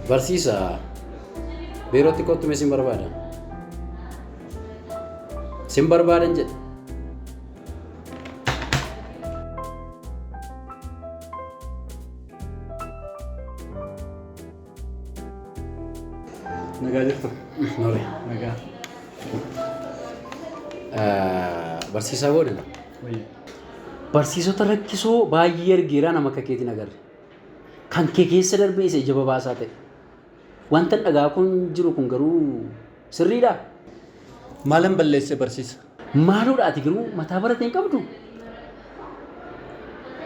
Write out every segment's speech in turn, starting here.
Barsiisaa biirootti kottume sin barbaada. Sin barbaadan jedhe. Nagaa jirtu? Nole. Nagaa. Barsiisaa boodana. Wayya. Barsiisota rakkisoo baay'ee argeeraa nama akka keetiin agarre. Kan kee keessa darbee isa ija babaasaa ta'e. Wanta dhagaa kun jiru kun garuu sirriidhaa? Maalan balleesse barsiisa? Maaloodha ati garuu mataa barate hin qabdu?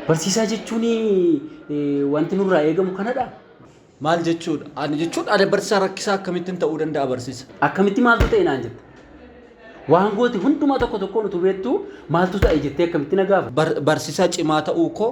Barsiisaa jechuun wanti nurraa eegamu kanadha. Maal jechuudha? Ani jechuun ani barsiisaa rakkisaa akkamittiin ta'uu danda'a barsiisa? Akkamitti maaltu ta'e naan jetta? Waan goote hundumaa tokko tokkoon utuu beektuu maaltu ta'e jettee akkamitti na gaafa? Barsiisaa cimaa ta'uu koo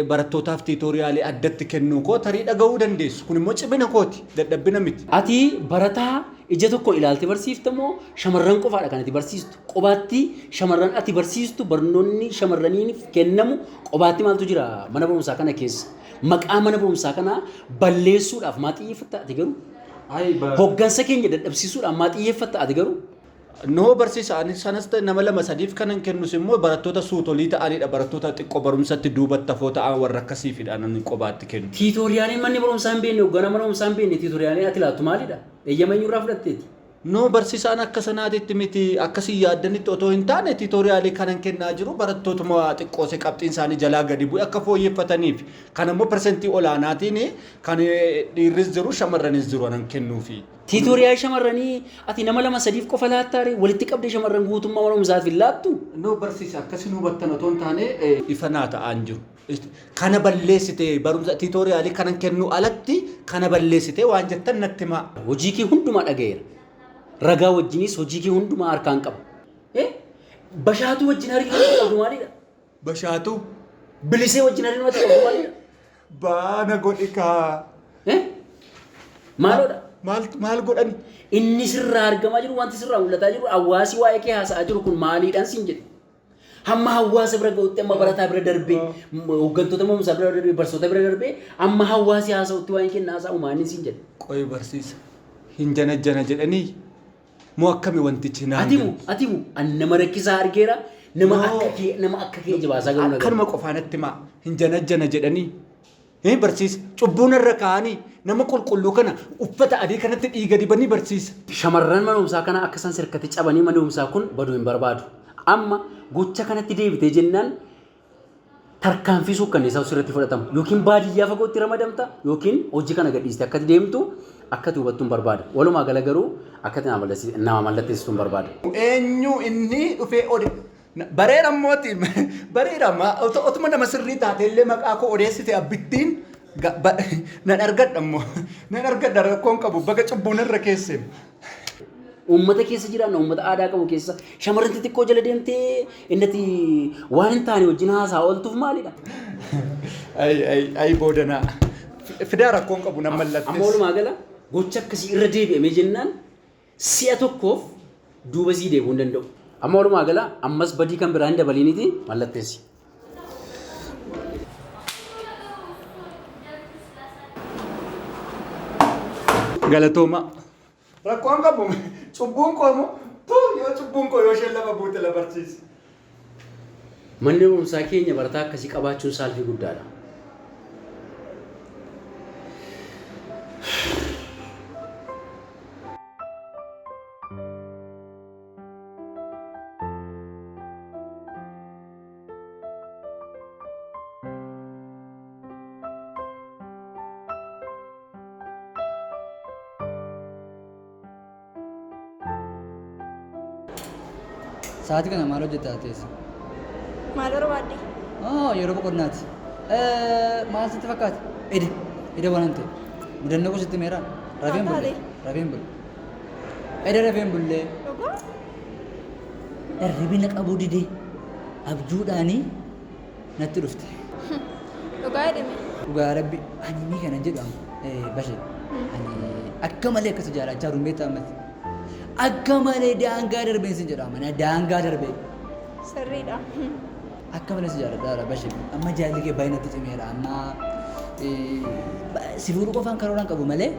barattootaaf tiitooriyaalii addatti kennuu koo tarii dhaga'uu dandeessu. Kun immoo cimina kooti, dadhabbina miti. Ati barataa ija tokko ilaalte barsiifta moo shamarran qofaadha kan ati barsiistu? Qobaatti shamarran ati barsiistu barnoonni shamarraniif kennamu qobaatti maaltu jira mana barumsaa kana keessa? Maqaa mana barumsaa kanaa balleessuudhaaf maa xiyyeeffatta ati garuu? Hoggansa keenya dadhabsiisuudhaan maa xiyyeeffatta ati garuu? Noo barsiisa ani sanas ta'e nama lama sadiif kanan kennus immoo barattoota suutolii ta'anidha barattoota xiqqoo barumsatti duubatti hafoo ta'an warra akkasiifidha ani qobaatti kennu. Tiitooriyaaliin manni barumsaa hin beekne hogganaa mana barumsaa hin beekne tiitooriyaaliin ati laattu maalidha? Eeyyama eenyurraa fudhatteeti? Noo barsiisa ani akka sanaatitti miti akka isin yaaddanitti otoo hin taane tiitooriyaalii kanan kennaa jiru barattootuma xiqqoose qabxiin isaanii jalaa gadi bu'e akka fooyyeffataniif kan ammoo persentii olaanaatiin kan dhiirris jiru shamarranis jiru anan kennuufi. Tiitooriyaa shamarranii ati nama lama sadiif qofa laattaare walitti qabdee shamarran guutummaa mana barumsaaf hin laattu. Noo barsiisa akkasiin hubattan otoo hin taane ifa naa ta'aan jiru. Kana balleessite barumsa tiitooriyaalii kanan kennu alatti kana balleessite waan jettan natti himaa. Hojii kee hundumaa dhagayeera. Ragaa wajjinis hojii kee hundumaa harkaan qaba. Bashaatuu wajjin hariiroo qabdu maalidha? Bashaatu. Bilisee wajjin hariiroo ta'e qabu malee. Baana godhi kaa. Eh? Maaloodha? Maal maal godhani? Inni sirraa argamaa jiru wanti sirraa mul'ataa jiru hawaasi waa'ee kee haasa'aa jiru kun maaliidhaan siin jedhe. Hamma hawaasa bira ga'utti amma barataa bira darbee m- hooggantoota moomusaa bira darbee barsoota bira darbee amma hawaasi haasa'utti waa'ee kee haasa'u maaliin siin jedhe. Qoy barsiisa. Hin janajjana jedhanii. Moo akkami wantichi naan Atimu, galti? atimu, an nama rakkisaa argeera, nama Yoo. akka kee, nama akka kee jibaasaa garuu na gala. Akkanuma qofaa natti himaa hin janajjana jedhanii hin barsiisa. Cubbuu narra kaa'anii nama qulqulluu kana uffata adii kanatti dhiiga dibanii barsiisa. Shamarran mana barumsaa kana akka isaan sirkatti cabanii manni barumsaa kun badu hin barbaadu. Amma gocha kanatti deebitee jennaan tarkaanfii suukkanneessaa sirratti fudhatamu yookiin baadiyyaa fagootti ramadamta yookiin hojii kana gadhiiste akkati deemtu akkati hubattuun barbaada. Walumaa gala garuu akkati nama mallatteessituun barbaada. Eenyu inni dhufee ode bareera immooti bareera otuma nama sirrii taatee illee maqaa koo odeessite abbittiin nan argadha immoo nan argadha rakkoon qabu baga cubbuun irra keesse Uummata keessa jiraanna, uummata aadaa qabu keessa shamarran xixiqqoo jala deemtee innati waan hin taane wajjin haasaa ooltuuf maalidha? Ay ay ay boodanaa. Fidaa rakkoon qabu nan mallatteessa. Amma walumaa gala gocha akkasii irra deebi'amee jennaan si'a tokkoof duuba sii deebi'uu hin danda'u. Amma walumaa gala ammas badii kan biraa hin dabaliiniti mallatteessi. Galatooma. Rakkoon qabu cubbuun koo moo tuu yoo cubbuun koo yoo isheen lafa buute la barsiisi. Manni barumsaa keenya barataa akkasii qabaachuun saalfii guddaadha. Sa'aatii kana maal hojjetta teessa? Maal barbaadde? Oh, yeroo boqonnaati. Maal sitti fakkaata? Ida, ida waan ta'e. Mudannoo koo sitti meeraa? Rafeen bulle. Rafeen bulle. Eda rafeen bullee. Dhugaa? Dharribi na qabuu dide. Abjuudhaani natti dhufte. Dhugaa jedhime. Dhugaa rabbi ani ni kana jedhu amma eh, bashe ani akka malee akkasi jaalachaa jiru beektaa ammatti akka malee daangaa darbeen sin jedha amma na daangaa darbee Sirriidha. akka malee si jaaladha dha bashe amma jaalli kee baay'inatti cimeera amma eh, ba- si fuudhu qofaan karooraan qabu malee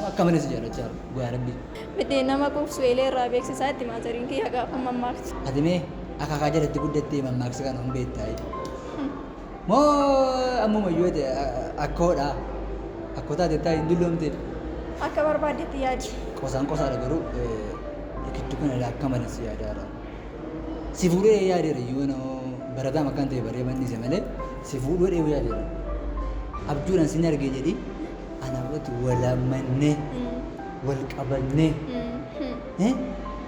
Akka malee si jaalachaa jira dhugaa rabbi. Miti nama quufsu eelee irraa beeksisaa itti maazariin kiyya gaafa mammaaktu. Ati mee akaakaa jalatti guddattee mammaaksa kana hin beektaayi. Moo ammumayyuu ati akkoodha. Akkoo taatettaa hin dulloomteef. Akka barbaaddetti yaadi. Qosaan qosaadha garuu rikichuu kana ilaa akka malee si yaadaara. Si fuudhee yaadeera iyyuu noo barataan akkan ta'e baree mannise malee si fuudhuu dheewu yaadeera. Abjuudhaan sin argee jedhi Ana wati walamanne wal qabanne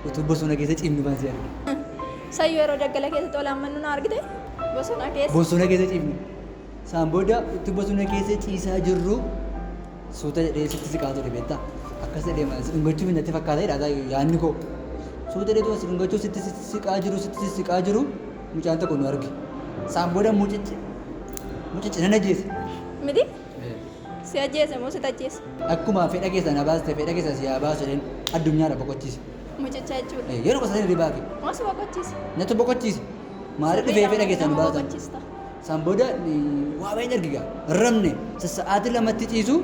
utuu bosona keessa ciifnu kan si arge. Sayyoo yeroo daggala keessatti wal ammannu na argite bosona keessa. Bosona keessa ciifnu. Saan booda utuu bosona keessa ciisaa jirru suuta jedhee sitti siqaa ture beektaa. Akkas jedhee mana si dhungachuuf hin natti fakkaata jedhaa sayyoo yaadni koo. Suuta jedhee si dhungachuuf sitti siqaa jiru sitti siqaa jiru mucaan tokko nu arge. Saan booda mucichi mucichi nan ajjeese. Miti Si ajjeese moo sit ajjeese? Akkuma fedha keessaa na baaste fedha keessaa si haa baasu jedheen addunyaarra boqochiise. Mucicha jechuudha. Ee, yeruma sana hirribaa ka'e. Moo si boqochiise? Natu boqochiise. Maaliif dhufee Sirriidha fedha moo keessaa nu nama baasan? boqochiista? San booda ni- waa baay'een arge gaa. Rafne sa- sa'aatii lamatti ciisu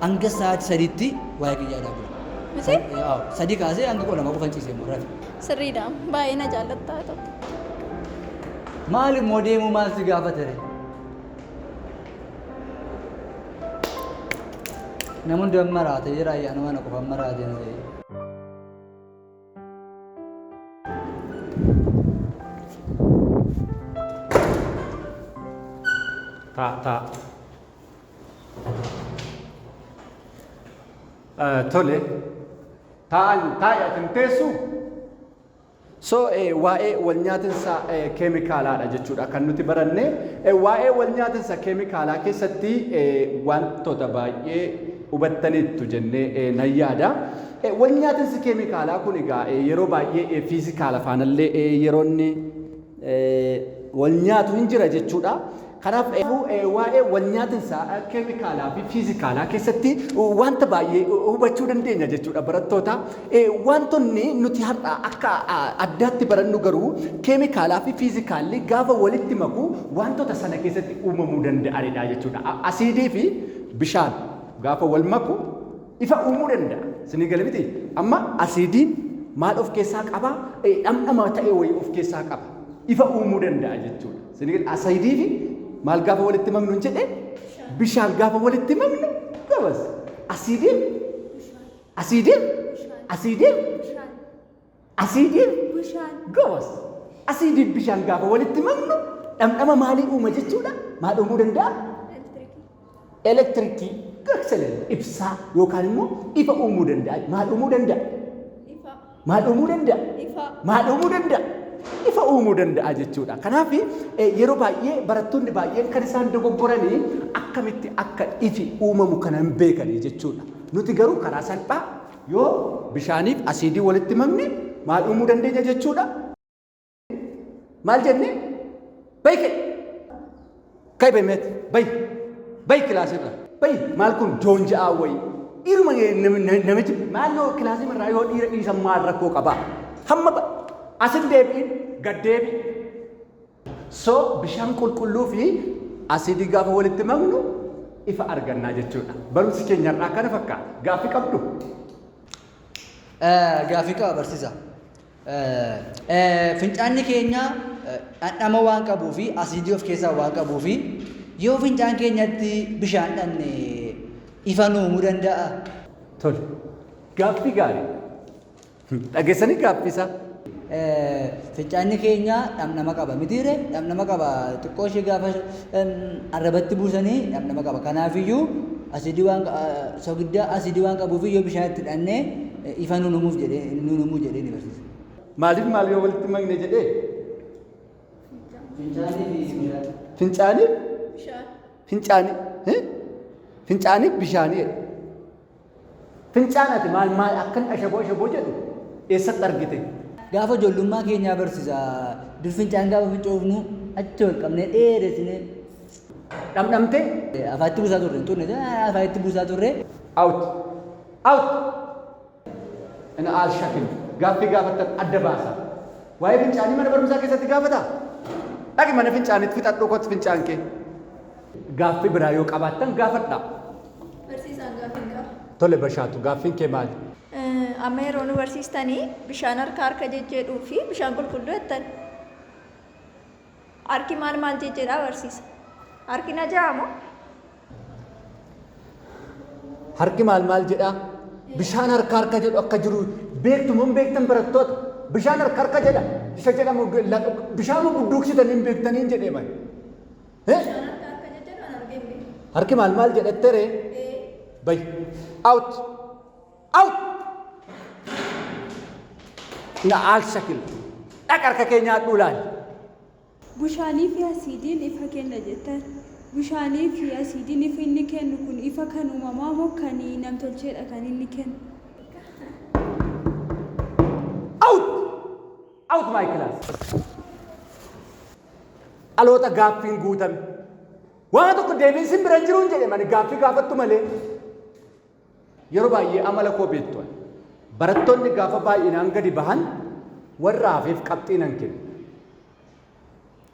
hanga sa'aatii sadiitti waa'ee kiyyaa dhaabula. Miti? Sa- ee, awo, Sadii kaasee hanga kudha lama qofan ciise immoo rafe. Sirriidha. Baay'ee na jaallattaa tokko. Maali immoo deemuu maal si gaafate ree? Nama hundi amma raatee jira ayyaana mana qofa amma raatee na ta'e. Taa taa. Tole. Taa'an taa'i ati hin teessuu? So waa'ee walnyaatinsa keemikaalaadha jechuudha kan nuti baranne. Waa'ee walnyaatinsa keemikaalaa keessatti wantoota baay'ee hubattaniittu jennee nan yaada. Walnyaatinsi keemikaalaa kun egaa yeroo baay'ee fiizikaala faanallee yeroo inni walnyaatu hin jira jechuudha. Kanaaf iyyuu waa'ee walnyaatinsaa keemikaalaa fi fiizikaalaa keessatti wanta baay'ee hubachuu dandeenya jechuudha barattoota. Wantonni nuti har'a akka addaatti barannu garuu keemikaalaa fi fiizikaalli gaafa walitti maku wantota sana keessatti uumamuu danda'anidha jechuudha. Asiidii fi bishaan gaafa wal maku ifa uumuu danda'a. Isinii gale miti? Amma asiidiin maal of keessaa qaba? Dhamdhama ta'e wayii of keessaa qaba. Ifa uumuu danda'a jechuudha. Sinigal asaidii fi maal gaafa walitti maknu hin jedhe bishaan gaafa walitti maknu gabas asiidii asiidii asiidii asiidii gabas asiidii bishaan gaafa walitti maknu dhamdhama maalii uuma jechuudha maal uumuu danda'a Elektirikii, gakselen, ibsaa yookaan immoo ifa uumuu danda'a. Maal uumuu danda'a? Ifa. Maal uumuu danda'a? Ifa. Maal uumuu danda'a? Ifa uumuu danda'a jechuudha. Kanaaf yeroo baay'ee barattoonni baay'een kan isaan dogoggoranii akkamitti akka ifi uumamu kana hin beekanii jechuudha. Nuti garuu karaa salphaa yoo bishaaniif asiidii walitti makne maal uumuu dandeenya jechuudha? maal jenne bay ka'e ka'e bay meet bay bay kilaasirra bay maal kun joon ja'aa wayi dhiiruma namichi maal yoo kilaasii irraa yoo dhiira dhiisan maal rakkoo qaba hamma asin deebi'in gad deebi so bishaan qulqulluu fi asiidii gaafa walitti maknu ifa argannaa jechuudha barumsi keenya irraa akkana fakkaata gaaffii qabdu. Gaaffii qaba barsiisa. e. Fincaanni keenya dhandhama waan qabuu fi asiidii of keessaa waan qabuu fi yoo fincaan keenyatti bishaan dhanne ifa nu uumuu danda'a. Tole. Gaaffii gaarii. Dhageessanii gaaffii isaa? Fincaanni keenya dhamdhama qaba mitiire dhamdhama qaba xiqqoo ishee gaafa arrabatti buusanii dhamdhama qaba kanaafiyyuu asidii waan sogiddaa asidii waan qabuuf yoo bishaan itti dhannee Ifaa nuun uumuuf jedhee, nuun uumuu jedhee ni barsiisa. Maaliif maal yoo walitti makne jedhee? Fincaanii fi bishaan. Fincaanii? Bishaan. Fincaanii. eh? Fincaanii fi bishaanii jedhe. Fincaan ati maal maal akkan ashaboo ashaboo jedhu eessatti argite? Gaafa ijoollummaa keenyaa barsiisa. Dur fincaan gaafa fincoofnu achi ol qabnee dheeressinee Dhamdhamtee? afaatti buusaa turre hin turre afaatti buusaa turre Out. Out! An aal shakil. Gaaffii gaafattan adda baasa. Waa'ee fincaanii mana barumsaa keessatti gaafata? Dhaqi mana fincaanitti fixadhuu kot fincaan kee. Gaaffii biraa yoo qabaattan gaafadha. Barsiisaan gaaffii qaba. Tole bashaatu gaaffiin kee maali? Amma yeroo nu barsiistanii bishaan harka harka jejjeedhuu fi bishaan qulqulluu jettan. Harki maal maal jijjiiraa barsiisa? Harki na ja'a moo? Harki maal maal jedhaa? Bishaan harka harka jedhu akka jiru beektu moo hin beektan barattoota? Bishaan harka harka jedha isa jedhamu bishaan moo budduuksitanii hin beektanii hin jedhee mali? Harki maal maal jedhattere? Bayi. Out. Au! Na'aal shakil. Dhaq harka kee nyaadhuu laali. Bushaanii fi asiidiin ifa kenna jettan. Bushaanii fi asiidiin ifa inni kennu kun ifa kan uumamaa moo kan namtolcheedha kan inni kennu? Out! Out my class. Dhaloota gaaffiin guutame. Waan tokko deebiin sin bira hin jiruun jedhe mani gaaffii gaafattu malee. Yeroo baay'ee amala koo beektu ani. Barattoonni gaafa baay'inaan gadi bahan warra hafeef qabxii nan kenna.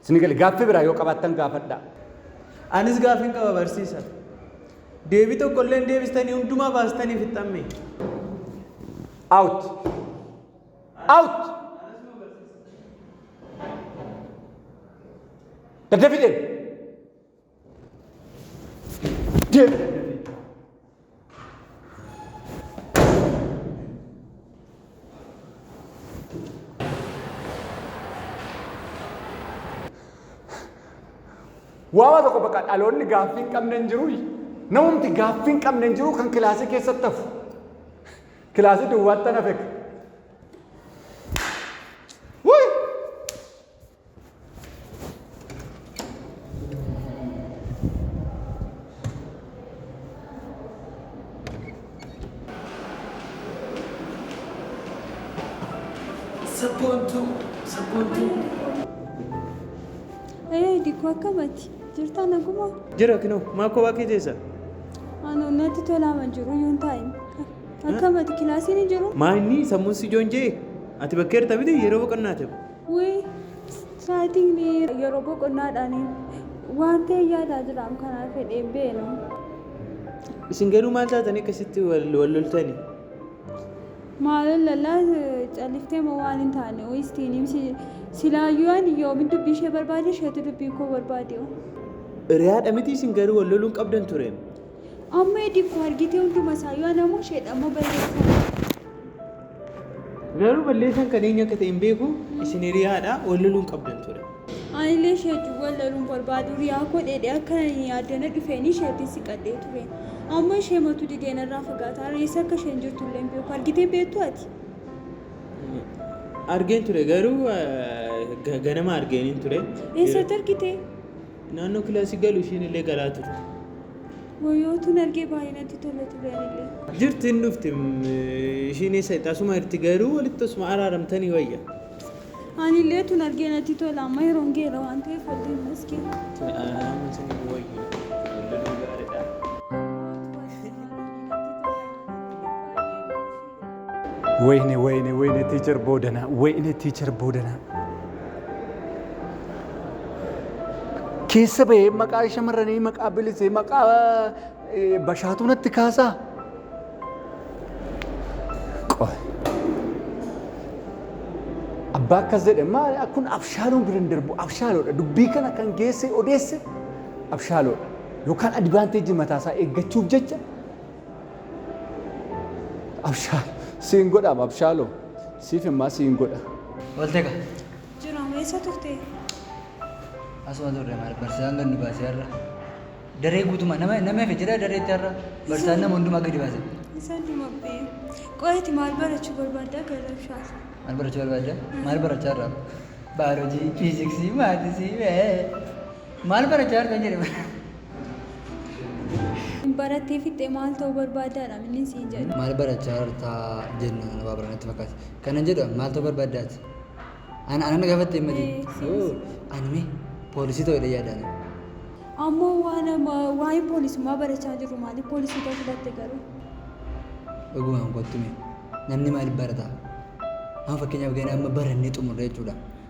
Isin gale gaaffii biraa yoo qabaattan gaafadhaa. Anis gaaffiin qaba barsiisa. Deebii tokko illee hin deebistanii hundumaa baastanii fixxamme. Out. Out. Daddafii deemi. Waama tokko bakka dhaloonni gaaffii hin qabne hin jiru. Namumti gaaffii hin qabne hin jiru kan kilaasii keessatti hafu. Kilaasii duwwaatti na feka. Wuy! Sabboontuu, sabboontuu. Ee dikkoo akkamati jirtaa naguma Jira kinoo maa kophaa kee teessa? ano natti tolaama jiru yoon taa'e akkamati kilaasiin hin jiru Maa inni sammuun si joonjee? Ati bakka jirta miti yeroo boqonnaa ta'u. Wii straatigni yeroo boqonnaadhaan waan ta'e yaadaa jiraam kanaa fedhee beenu. Isin garuu maal taatanii akkasitti wal wal loltani? Maaloo lalaa califtee moo waan hin taane wii istiinim silaayyuu ani yoomin dubbii ishee barbaade isheetu dubbii koo barbaade. Hiriyaadha miti isin garuu wal loluun qabdan ture. Amma edikko argitee hunduma isaa yoo anamoo isheedha ammoo balleessaa. Garuu balleessaan kan eenyu akka ta'e hin beeku isin hiriyaadha wal loluu hin qabdan ture. Anillee ishee wajjin wal loluun barbaadu riyaa koo dheedhee akka addana dhufeen isheetti siqadhee ture. Amma ishee matu didee narraa fagaataa reessa akka isheen jirtu illee hin beeku argitee beektu ati. Argeen ture garuu ganama argeen ture. Eessatti argitee? Naannoo kilaasii galu ishiin illee galaa turte. Wayoo tun argee baay'ee natti tola ture anillee. Jirti hin dhufti ishiin eessa itti asuma jirti garuu walitti asuma araaramtanii wayya. Anillee tun argee natti tola amma yeroon geera waan ta'eef wal deemna iskee. Araaraamuun isin hin wayyu. Wal loluu gaariidha. Wayne wayne wayne teacher boodana wayne teacher boodana. Keessa bahee maqaa shamarranii maqaa bilisee maqaa eh, bashaatuu natti kaasaa. Qoy. Abbaa akkas jedhe maali kun abshaaloon bira hin darbu abshaaloodha dubbii kana kan geesse odeesse abshaaloodha yookaan adivaanteejii mataasaa eeggachuuf jecha Abshaal siin godhaam abshaaloo siif immaa siin godha. Oolte ka. Jira meessa turte? Asuma turre maal barsaan gad nu baase har'a. Daree guutuma nama nama efe jira dareetti har'a barsaan nama hundumaa gadi baase. Isa dumabbee. Qo'eeti maal barachuu barbaaddaa garabshaa? Maal barachuu barbaadda? Maal barachaa irraa? Baayoloojii, fiiziksii, maatisii, mee. Maal barachaa argan jedhe bara. Barattee fixxee maal ta'uu barbaaddaadha minni siin jedhe. Maal barachaa jirta jenna kana waa baranatti fakkaata. Kanan jedhu maal ta'uu barbaaddaati? Ana ana na gaafatte hin matiin. Ee, siin- Oo, Ani mee poolisii ta'uu jedhee yaadaan. Ammoo waan amma waa'ee poolisummaa barachaa jirru maaliif poolisii ta'uu filatte garuu? Dhugumaan kottu mee namni maaliif barata? Amma fakkeenyaaf gana amma barannee xumurre jechuudha.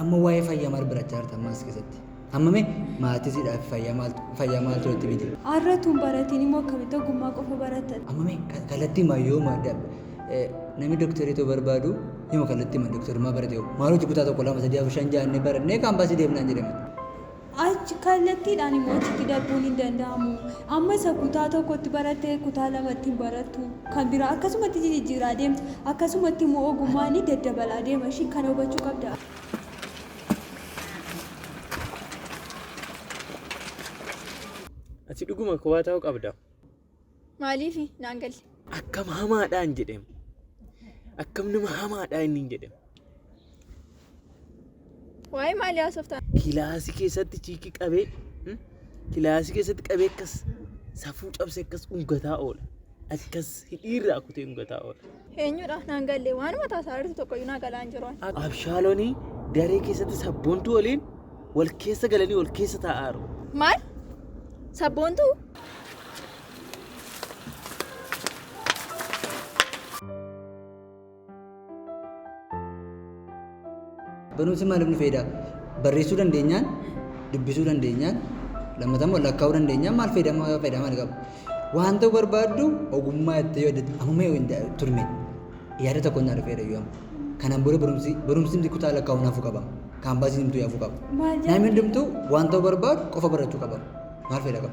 Amma waa'ee fayyaa maal barachaa jirta ammaas keessatti? Amma mee maatisidhaaf fayyaa maaltu fayyaa maaltu itti bite? Har'a tun baratiin immoo akkamitti ogummaa qofa baratta? Amma mee ka- kallattii maa yoo maa da- eh, namni doktorii ta'uu barbaadu yoo kallattii maa doktorummaa barate hoo maal hojii kutaa tokko lama sadii afur shan ja'a inni barannee kaampaasii deemnaan jedhame. Achi kallattiidhaan immoo achitti darbuun hin danda'amu. Amma isa kutaa tokkotti baratte kutaa lamatti hin barattu. Kan biraa akkasumatti jijjiiraa deemta. Akkasumatti immoo ogummaan daddabalaa deema ishii kana hubachuu qabda. Ati dhuguma kophaa ta'uu qabda. Maaliifi naan galle? Akkam hamaadhaan jedhem. Akkam nama hamaadhaa inni jedhem. Waa'ee maalii haasoftaa? Kilaasii keessatti chiikii qabee hmm? kilaasii keessatti qabee akkas safuu cabse akkas ungataa oola. Akkas hidhiirraa kutee ungataa oola. Eenyudha naan galle waanuma taasaarartu tokkoyyuu naa galaan jiru. Abshaalooni daree keessatti sabboontuu waliin wal keessa galanii wal keessa taa'aaru. Maal? Sabboontuu? Barumsi maaliif nu fayyada? Barreessuu dandeenyaan, dubbisuu dandeenyaan, lammata immoo lakkaa'uu dandeenyaan maal fayyadama fayyada maal qaba? Waan ta'uu barbaaddu ogummaa itti yoo hidhatte amma mee hin turme yaada tokko naa dhufeera yoo amma. Kanaan booda barumsi barumsi kutaa lakkaa'uu naafuu qaba. Kaampaasiin himtuu yaafuu qaba. Maal jedhama? Namni hundumtuu waan ta'uu barbaadu qofa barachuu qaba. Maal fayyada qaba?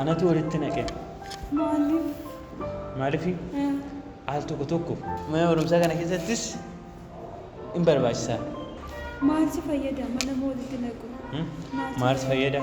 Anatu walitti naqe. Maaliif? Maalifi? Al tokko tokko mana barumsaa kana keessattis in barbaachisa. Maal si fayyada mana walitti naqu? Hmm? Maal si fayyada?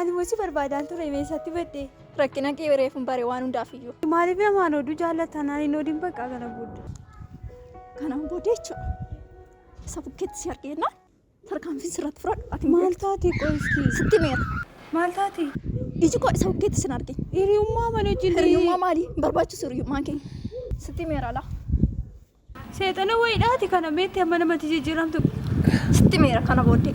Ani mosi barbaadaan ture meesatti badde. Rakkina kee reefuun bare waan hundaaf iyyuu. Maaliif namaan oduu jaallatan ani hin odiin bakka kana booda. Kanaan booda jechuudha. Isa bukkeetti si argeennaan Tarkaanfii sirratti fudhadhu ati hin Maal beektu. taate qoy iski? Sitti meera. Maal taate? Iji koo isa bukkeetti sin arge. Hiriyummaa mana wajjin Hiriyummaa maali? Hin barbaachisu hiriyummaan keenya. Sitti meera laa. Seexana wayiidhaati kana beekte amma namatti jijjiiramtu. Sitti meera kana booddee.